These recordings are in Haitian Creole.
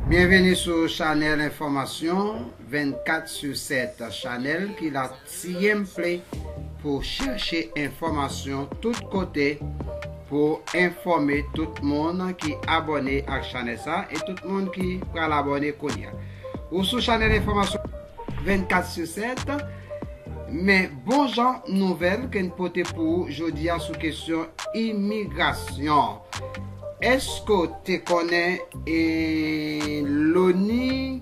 Byenveni sou chanèl enfòmasyon 24 su 7 chanèl ki la siyenpli pou chèche enfòmasyon tout kote pou enfòme tout moun ki abòne ak chanèl sa e tout moun ki pral abòne kounya ou sou chanèl enfòmasyon 24 sur 7 Men bon jan nouvèl ke n pote pou ou jodi a sou kesyon imigrasyon Èske w te konnen e loni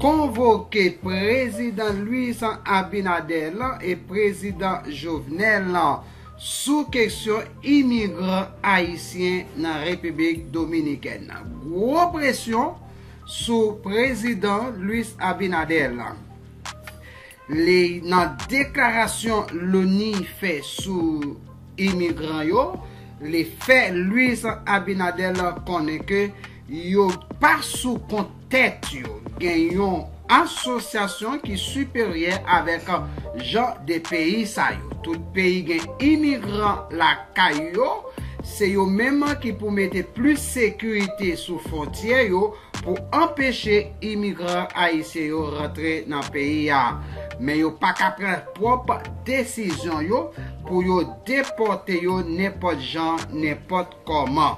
konvoke prezidan Luis Abinader e prezidan Jovenel sou kesyon imigran ayisyen nan Repiblik Dominikèn Gwo presyon sou prezidan Luis Abinader la. Li nan deklarasyon loni fè sou imigran yo, li fè Luis Abinader la konnen ke yo pa sou kont tèt yo, gen yon asosyasyon ki siperyè avèk jan de peyi sa yo. Tout peyi gen imigran lakay. kay yo, se yo menm ki pou mete plis sekirite sou fontyè yo pou anpeche imigran ayisyen yo rantre nan peyi a. Men yo pa ka pran pwòp desizyon yo pou yo depòte yo nenpòt jan, nenpòt kòman.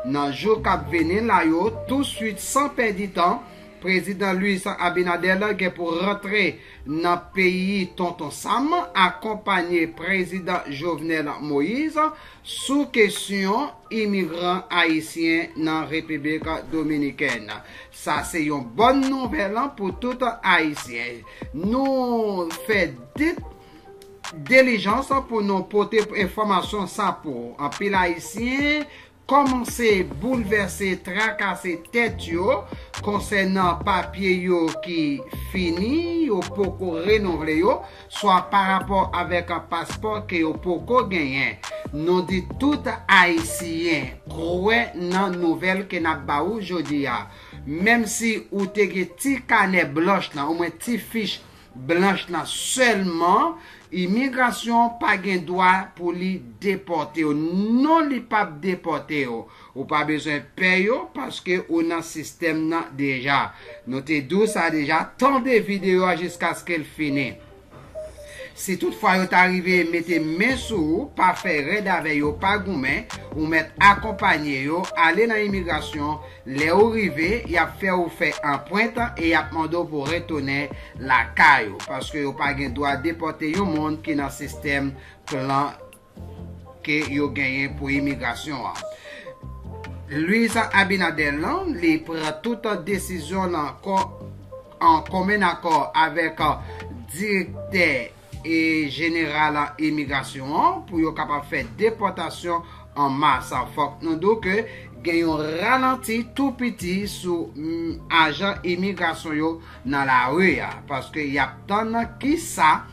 Nan jou k ap vini la yo, touswit san pèdi tan, Prezidan Luis Abinader gen pou rantre Nan peyi Tonton Sam akonpanye Prezidan Jovenel Moise sou kesyon imigran ayisyen nan Repiblik Dominikèn. Sa se yon bòn nouvèl pou tout Ayisyen. Nou fè dit delijans pou nou pote enfòmasyon sa pou anpil Ayisyen Kòmanse boulvèse trakase tèt yo konsènan papye yo ki fini yo poko renouvle yo swa parapò avèk paspò ke yo poko genyen nou di tout ayisiyen kwè nan nouvèl ke nap ba ou jodi a menm si ou te gen ti kanè blanch lan omwen ti fich Blanch lan selman imigrasyon pa gen dwa pou li depotew non li pap depotew ou pa bezwen pè yo paske ou nan sistèm nan deja nou te diw sa deja tande video a jiskaskel fini si tout fwa yo ta rive mete men sou ou pa fè rèd avè yo pa goumen ou mèt akonpanye yo ale nan imigrasyon Lè ou rive, y ap fè ou fè anpwent e y ap mande w pou w retounen lakay ou, paske yo pa gen dwa depòte yon moun ki nan sistèm plan ke yo genyen pou imigrasyon an. Luis Abinader lan, li pran tout desizyon nan an komen akò avèk direktè. e jeneral an imigrasyon an pou yo kapab fè depòtasyon an mas. Fòk nou di w ke gen yon ralanti tou piti sou ajan imigrasyon yo nan lari a, paske y ap tann ki sa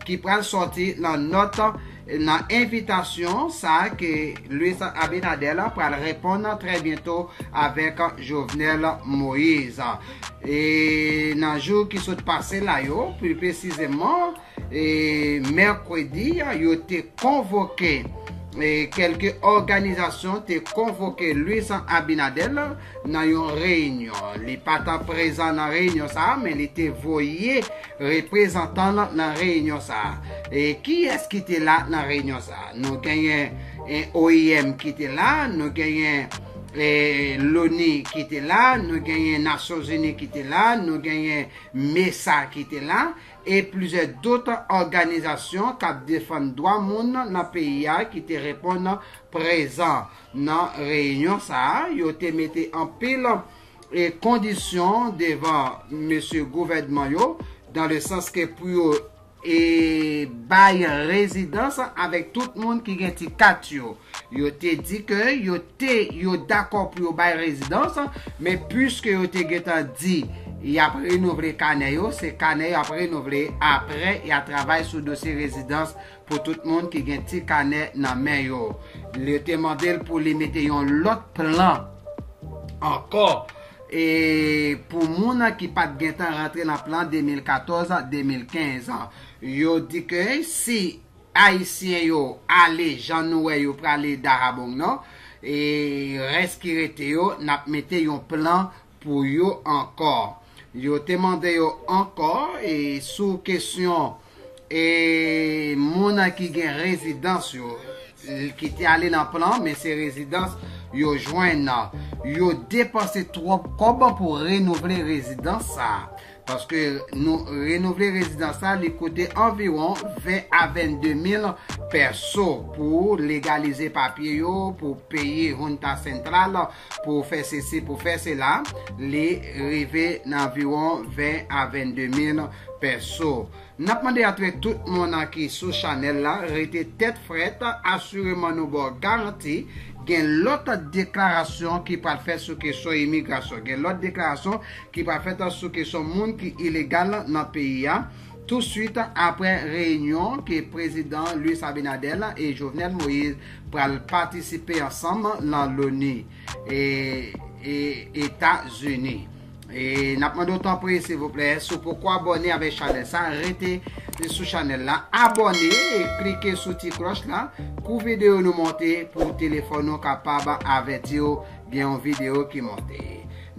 ki pral sòti nan nòt nan envitasyon sa ke Luis Abinader pral reponn trè byento avèk Jovenel Moise. E nan jou ki sot pase la yo, pli presizeman, e mèkredi a, yo te konvoke, e kèlke òganizasyon te konvoke Luis Abinader nan yon reyinyon. Li pa ta prezan nan reyinyon sa a, men li te voye reprezantan l nan reyinyon sa a. E kiyès ki te la nan reyinyon sa a? Nou genyen OIM ki te la, nou genyen. e loni ki te la nou genyen nasyon zini ki te la nou genyen mesa ki te la e plize dout òganizasyon kap defann dwa moun nan peyi a ki te reponn prezan nan reyinyon sa a yo te mete anpil e kondisyon devan mesye gouvènman yo dan le sans ke pou yo E bay rezidans avèk tout moun ki gen ti kat yo. Yo te di ke yo te yo dakò pou yo bay rezidans, men puiske yo te gentan di y ap renouvle kanè yo, se kanè yo ap renouvle apre y a travay sou dosye rezidans pou tout moun ki gen ti kanè nan men yo. Yo te mande l pou li mete yon lòt plan ankò. E pou moun ki pat gentan rantre nan plan 2014, 2015 an. Yo di ke si Ayisyen yo ale jan nou wè yo prale Dahabong Nò, e rès ki rete yo, n ap mete yon plan pou yo ankò. Yo te mande yo ankò e sou kesyon. E moun ki gen rezidans yo, ki te ale nan plan, men se rezidans yo jwenn nan. Yo depanse twòp kòb pou renouvle rezidans sa. Paske nou renouvle rezidans sa, li koute anviwon 20 a 22 mil pèso pou legalize papye yo, pou peye Junta Central, Pou fè sesi, pou fè sela, li rive nan anviwon 20 a 22 mil pèso. N ap mande atrè tout moun ki sou chanèl la rete tèt frèt, asireman nou ba w garanti gen lòt deklarasyon ki pral fèt sou kesyon imigrasyon, gen lòt deklarasyon ki pral fèt sou kesyon moun ki ilegal nan peyi a. Tou swit aprè reyinyon ke Prezidan Luis Abinader e Jovenel Moïse pral patisipe ansanm lan Loni, Eta Zini. N ap mande w tanpri silvouplè, si w poko abòne avèk chanèl sa, rete sou chanèl la, abòne, klike sou ti klòch la, kou videyo nou monte pou telefòn nou kapab avèti w gen yon videyo ki monte.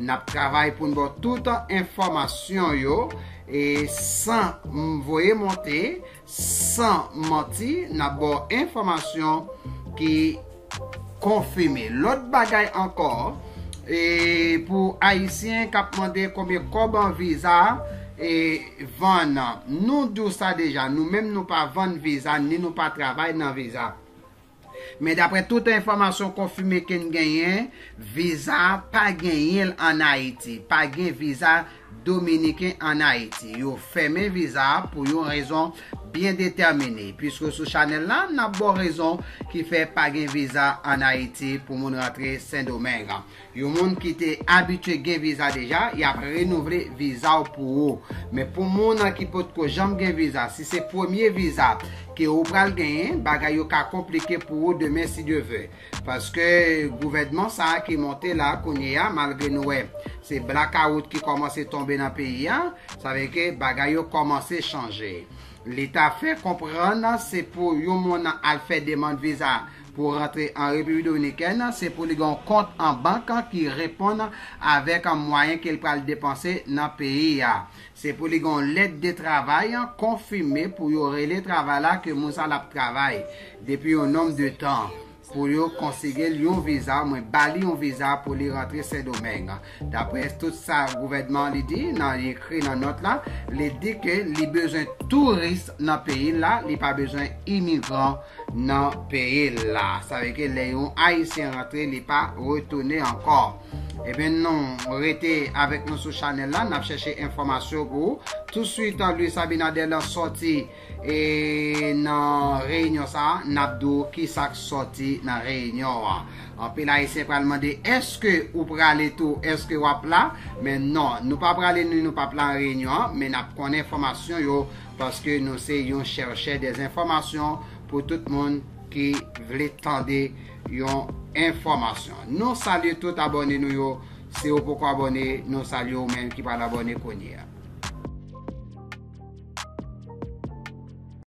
N ap travay pou n ba w tout enfòmasyon yo E san m voye monte, san manti, n ap ba w enfòmasyon ki konfime. Lòt bagay ankò, e pou Ayisyen k ap mande konbyen kòb an viza e vann, nou di w sa deja, nou menm nou pa vann viza ni nou pa travay nan viza. Men daprè tout enfòmasyon konfime ke n genyen, viza pa genyen l an Ayiti. Pa gen viza dominiken an Ayiti. Yo fèmen viza pou yon rezon byen detèmine. Piske sou chanèl la, n ap ba w rezon ki fè pa gen viza an Ayiti pou moun rantre Sendomeng. Yon moun ki te abitye gen viza deja, y ap renouvle viza w pou ou. Men pou moun ki potko janm gen viza, si se premye viza ke ou pral genyen, bagay yo ka konplike pou ou demen si Dye ve. Paske gouvènman sa a ki monte la kounye a, malgre nou wè se blakawout ki kòmanse tonbe nan peyi a, sa vle ke bagay yo kòmanse chanje. Li ta fè konprann se pou yon moun al fè demand viza Pou w rantre an Repiblik Dominikèn, se pou li gen yon kont an bank ki reponn avèk mwayen ke l pral depanse nan peyi a. Se pou li gen yon lèt de travay konfime pou yo rele travay la ke moun sa la ap travay depi yon nonb de tan pou yo konsige l yon viza, ou mwen ba li yon viza pou li rantre Sendomeng. Dapre tout sa gouvènman an li di nan li ekri nan nòt la, li di ke li bezwen touris nan peyi l la, li pa bezwen imigran nan peyi l la. Sa vle ke lè yon Ayisyen rantre li pa retounen ankò. Ebyen nou rete avèk nou sou chanèl la, n ap chèche enfòmasyon pou ou. Touswit Luis Abinader lan sòti. E nan reyinyon sa a, n ap di w ki sa k sòti nan reyinyon an. Anpil Ayisyen pral mande, Èske ou prale tou? Èske w ap la? Men non, nou pa prale ni nou pap la nan reyinyon an, men n ap konnen enfòmasyon yo paske nou se yon chèrchè dè enfòmasyon pou tout moun ki vle tande yon enfòmasyon. Nou salye tout abòne nou yo. Siw poko abone nou salye ou menm ki pral abone kounyea.